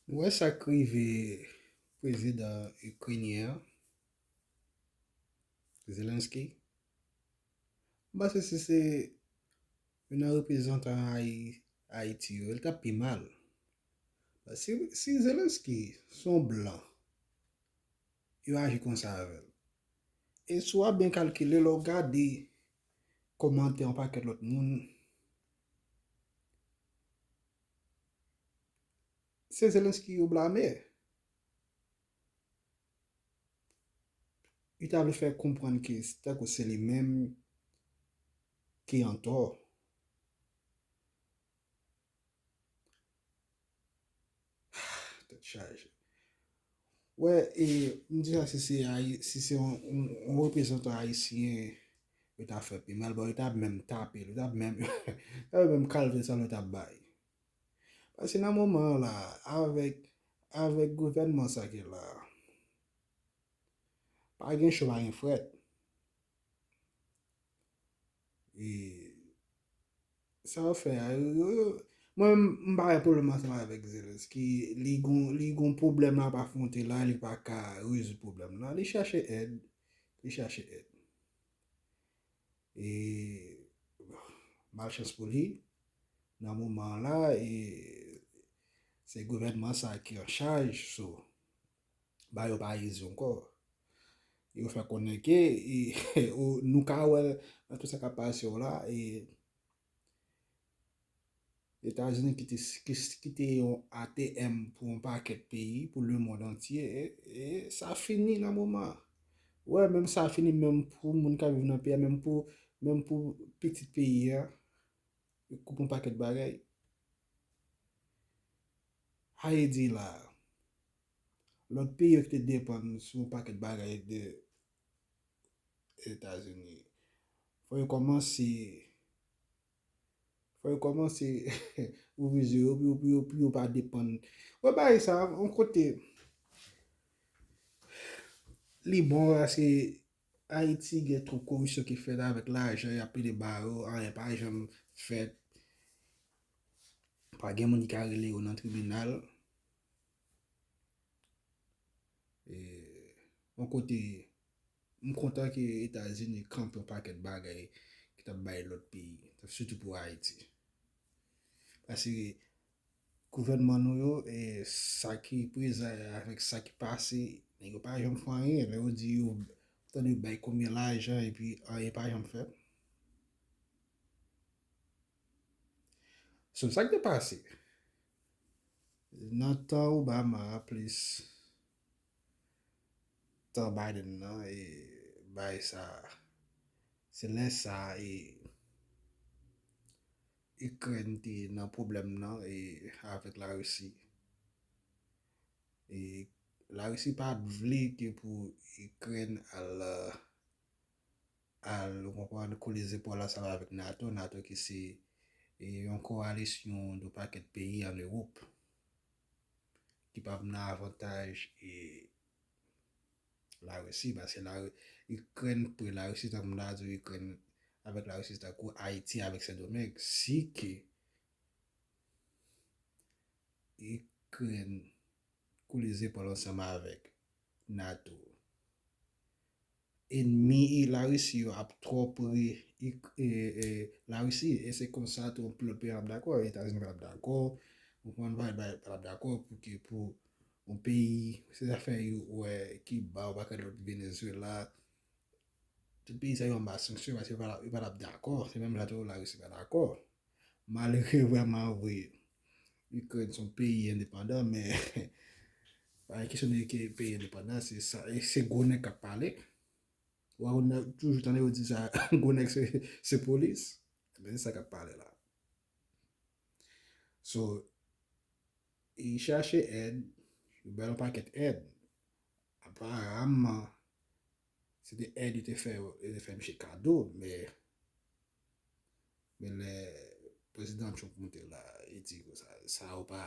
Nou wè sa k rive prezidan ikrenyen an, Zelenskyy. M panse si se youn nan reprezantan Ayiti yo, l t ap pi mal. Si Zelenskyy se yon blan, yo aji konsa avè l. E si w ap byen kalkile, lè w gade kòmantè yon pakèt lòt moun, Se Zelensky yo blame. Yo ta vle fè konprann ke tankou se li menm ki an tò. Tèt chaje. Wè e m di sa si se ayi si se yon reprezantan ayisyen yo ta fè pi mal bon yo ta menm tape l yo ta menm yo menm kalve sa l yo ta bay paske nan moman an la avèk avèk gouvènman sa ki la a pa gen cho pa gen frèt e Sa wap fè a Mwen m pa wè pwoblèm ansanm avèk Zelensky li gon li gon pwoblèm lap afwonte la li pa ka rezoud pwoblèm la li chache èd li chache èd e malchans pou li nan moman an la e se gouvènman sa ki an chaj so ba yo parezi ankò. Yo fè konnen ke nou ka wè nan tout sa kap pase yo la e Etazini ki te yon ATM pou yon pakèt peyi, pou le mond antye, e sa fini nan moman. Wè menm sa fini menm pou moun kap viv nan peyi a, menm pou menm pou pitit peyi a, yo koupe yon pakèt bagay. Ayiti la a. Lòt peyi yo ki te depann sou yon pakèt bagay de Etazini, fò yo kòmanse, fò yo kòmanse ouvri zye yo pou yo, pou yo pa depann. Wè bagay sa a, yon kote li bon paske Ayiti gen twòp koripsyon ki fèt avèk lajan y ap pile ba yo, anyen pa janm fèt. Pa gen moun ki ka rele yo nan tribinal. Yon kote, m kontan ke Etazini kanpe yon pakèt bagay ki t ap bay lòt peyi, sitou pou Ayiti. Pase gouvènman nou yo, sa ki prezan yo avèk sa ki pase, nèg yo pa janm fè anyen. Lè yo di yo, m tande yo bay konbyen lajan epi anyen pa janm fèt. So sak te pase nan tan Obama a plis tan Biden nan e bay sa se lè sa e Ikrèn te nan pwoblèm nan e avèk la Risi e la Risi pat vle ke pou Ikrèn al al ou konprann kole zepòl ansanm avèk nato, nato ki se yon kowalisyon yon pakèt peyi an ewop ki pa p nan avantaj larisi paske ikrèn pre larisi tankou m ta di w ikrèn avèk larisi se tankou ayiti avèk sendomeng si ke ikrèn kole zepòl ansanm avèk nato. Enmi larisi yo ap twò pre larisi e se konsa twonp lòt peyi ap dakò etazini pa tap dakò ou konprann bay bay pa tap dakò pou ki pou yon peyi se zafè yo wè kiba ou paket lòt venezwela tout peyi sa yo anba sanksyon paske yo pa tap dakò se menm jan tou larisi pa dakò malere vrèman vre Ikrèn son peyi endepandan men pa gen kesyon de peyi endepandan se gwo nèg kap pale wè ou toujou tande yo di sa gwo nèg se polis men se sa kap pale la so e chache èd yo ba yo pakèt èd apa ram man Se te èd yo te fè yo te fè misye kado men men lè prezidan Trump moute la li di sa yo pa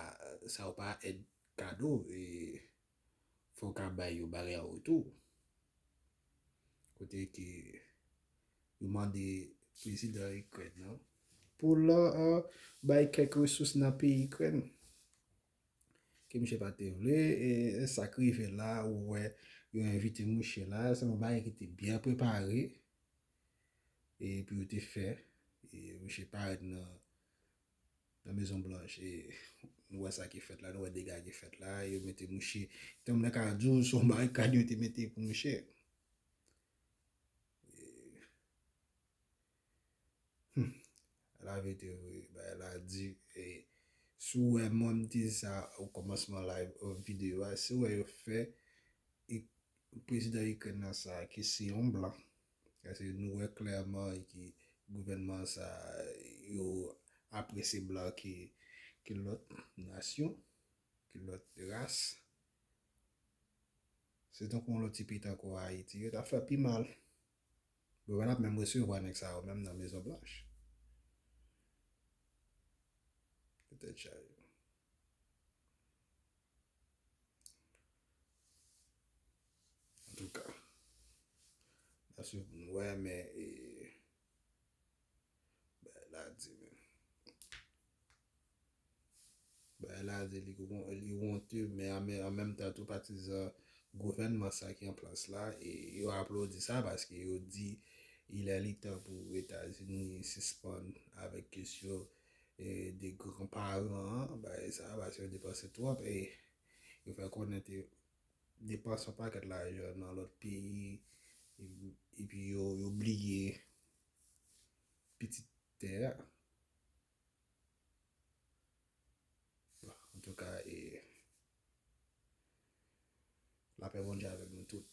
sa yo pa èd kado e fò w ka bay yo bagay an retou kote ke yo mande prezidan Ikrèn nan pou l bay kèk resous nan peyi Ikrèn. Ke misye pa te vle e sa k rive la ou wè yo envite mouche la se yon bagay ki te byen prepare e pou yo te fè e mouche parèt nan nan mezon blanch e nou wè sa ki fèt la nou wè dega ki fèt la yo mete mouche tanm nan ka di w se yon barikad yo te mete pou mouche e. Humm la vete vre bagay la di e si w wè mwen m te di sa o kòmansman live o video a si w wè yo fè e prezidan ikrèn nan sa ke se yon blan paske nou wè klèman ke gouvènman sa yo apresye blan ke lòt nasyon ke lòt ras se tankou yon lòt ti peyi tankou ayiti yo ta fè pi mal. Preval ap menm resevwa nèg sa yo menm nan mezon blanch. Pou tèt chaje. Antouka. Nan swiv pou nou wè men e. Bagay la di menn. Bagay la di li wonte men an menm tan tou patizan gouvènman sa ki an plas la e yo aplodi sa paske yo di il est li tan pou Etazini sispann avèk kesyon de gran paran an bagay sa paske yo depanse twòp e yo fè konnen te depanse yon pakèt lajan nan lòt peyi epi yo bliye pitit tè a. Antouka e lapè Bondye avèk nou tout.